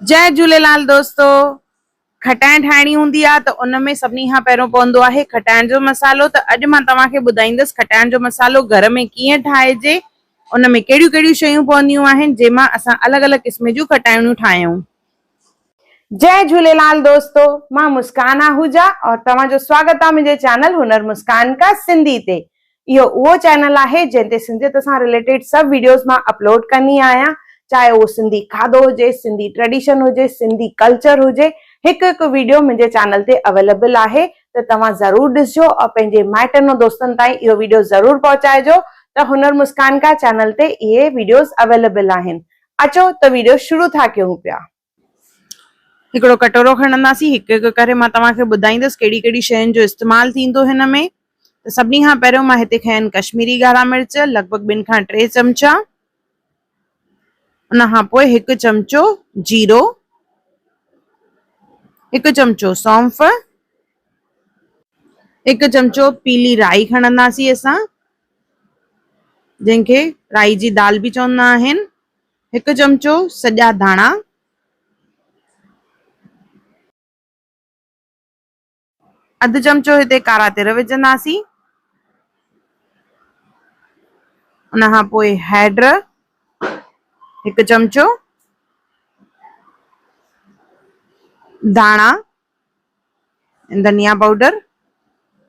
جئه جهوليلال دوستو کٽائڻ ٺاهڻي هوندي آ ته ان ۾ سڀني کان پهريون پوندو آهي کٽائڻ جو مصالحو ته اڄ مان توهان کي ٻڌائيندس کٽائڻ جو مصالحو گهر ۾ ڪيئن ٺاهجي ان ۾ ڪهڙيون ڪهڙيون شيون پونديون آهن جنهن مان اسان الڳ الڳ قسم جون کٽائڻيون ٺاهيون. جئه جهوليلال دوستو مان مسڪان آهوجا اور توهان جو سواگت آ منهنجي چينل هنر مسڪان ڪا سنڌي تي اهو اهو چينل آهي جنهن تي سنڌيت سان رليٽيڊ سڀ ويڊيوز مان اپلوڊ ڪندي آهيان چاهي اهو سنڌي کاڌو هجي سنڌي ٽريڊيشن هجي سنڌي ڪلچر هجي هڪ هڪ ويڊيو منهنجي چينل تي اويليبل آهي ته توهان ضرور ڏسجو ۽ پنهنجي مائٽن ۽ دوستن تائين اهو ويڊيو ضرور پهچائجو ته هنر مسڪان کا چينل تي اهي ويڊيوز اويليبل آهن اچو ته ويڊيو شروع ٿا ڪيون پيا. هڪڙو ڪٽورو کڻنداسين هڪ هڪ ڪري مان توهان کي ٻڌائيندس ڪهڙي ڪهڙي شين جو استعمال ٿيندو هن ۾ ته سڀني کان پهريون مان هتي کنيا آهن ڪشميري ڳاڙها مرچ لڳ ڀڳ ٻن کان ٽي چمچا ان کان پوء هڪ چمچو جيرو هڪ چمچو سونف هڪ چمچو پيلي رائي کڻنداسين اسان جنهن کي رائي جي دال به چوندا آهن هڪ چمچو سڄا ڌاڻا. اڌ چمچو هتي ڪارا تر وجهنداسين. ان کان پوء هيڊ هڪ چمچو ڌاڻا ڌنيا پائوڊر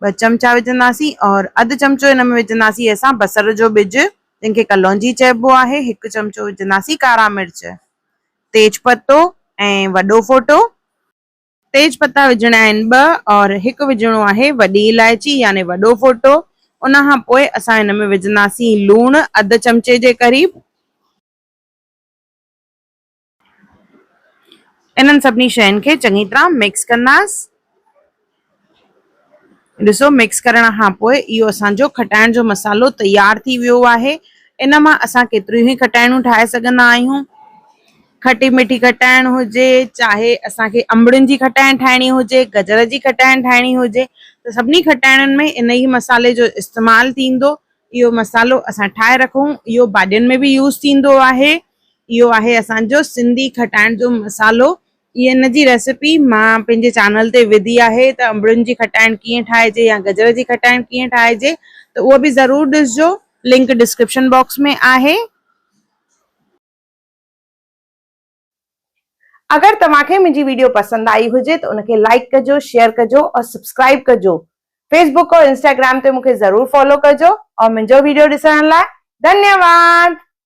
ٻه چمچا وجهنداسين اور اڌ چمچو هن ۾ وجهنداسين اسان بصر جو ٻج جنهن کي ڪلونجي چئبو آهي هڪ چمچو وجهنداسين ڪارا مرچ تيز پتو ۽ وڏو ڦوٽو تيز پتا وجهڻا آهن ٻه اور هڪ وجهڻو آهي وڏي الائچي يعني وڏو ڦوٽو ان کان پوء اسان هن ۾ وجهنداسين لوڻ اڌ چمچي جي قريب. انهن سڀني شين کي چڱي طرح مڪس ڪنداس. ڏسو مڪس ڪرڻ کان پوء اهو اسان جو کٽائڻ جو مصالحو تيار ٿي ويو آهي. ان مان اسان ڪيتريون ئي کٽائڻون ٺاهي سگهندا آهيون. کٽي مٺي کٽائڻ هجي، چاهي اسان کي انبڙين جي کٽائڻ ٺاهڻي هجي، گجر جي کٽائڻ ٺاهڻي هجي ته سڀني کٽائڻين ۾ ان ئي مصالحي جو استعمال ٿيندو. اهو مصالحو اسان ٺاهي رکون. اهو ڀاڄين ۾ به يوز ٿيندو آهي. اهو آهي اسان جو سنڌي کٽائڻ جو مصالحو اهي ان جي ريسيپي مان پنهنجي چينل تي وڌي آهي ته انبڙين جي کٽائڻ ڪيئن ٺاهجي يا گجر جي کٽائڻ ڪيئن ٺاهجي ته اهو به ضرور ڏسجو لنڪ ڊسڪرپشن باڪس ۾ آهي. اگر توهان کي منهنجي ويڊيو پسند آئي هجي ته ان کي لائيڪ ڪجو شيئر ڪجو اور سبسڪرائيب ڪجو فيس بوڪ اور انسٽاگرام تي مون کي ضرور فالو ڪجو اور منهنجو ويڊيو ڏسڻ لاء ڌنيواد.